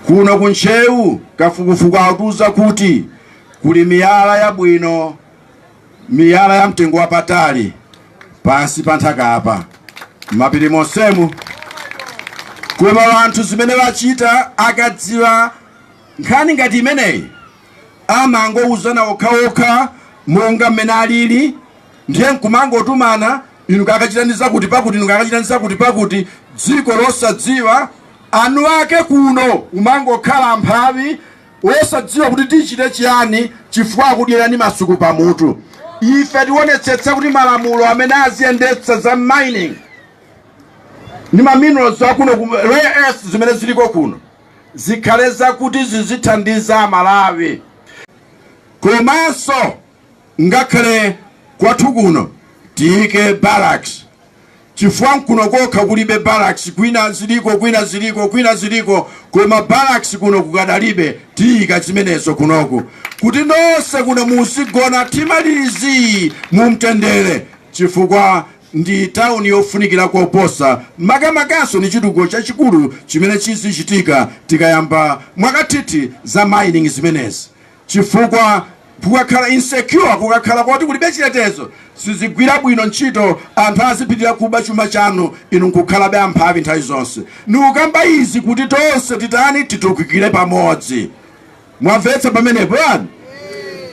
Kuno ku Ntcheu kafukufuku akutiuza kuti kuli miyala yabwino, miyala ya mtengo wapatali pansi pa nthaka apa m'mapiri monsemu, koma anthu zimene wachita akadziwa nkhani ngati imeneyi amangouzana okhaokha monga mmene alili ndiye nkumangotumana inu kakachiteni zakuti pakuti inu kakachiteni zakuti pakuti dziko losadziwa eni ake kuno umangokhala mphawi wosadziwa kuti tichite chiyani chifukwa akudyerani masuku pamutu ife tionetsetsa kuti malamulo amene aziyendetsa za mining ni maminerals akuno rare earths zimene ziliko kuno zikhale zakuti zizithandiza amalawi komanso Ngakhale kwathu kuno tiyike barracks chifukwa nkuno kokha kulibe barracks kwina ziliko kwina ziliko kwina ziliko koma barracks kuno kukadalibe tiyika zimenezo kunoku kuti nonse kuno muzigona timalizi mumtendere chifukwa ndi town yofunikira koposa makamakanso ni chitukuko chachikulu chimene chizichitika tikayamba mwakathithi za mining zimenezi. chifukwa kukakhala insecure kukakhala koti kulibe chitetezo sizigwira bwino ntchito anthu azipitirira kuba chuma chanu inu nkukhalabe amphawi nthawi zonse nikukamba izi kuti tonse titani titukikire pamodzi mwamvetsa pamenepo yani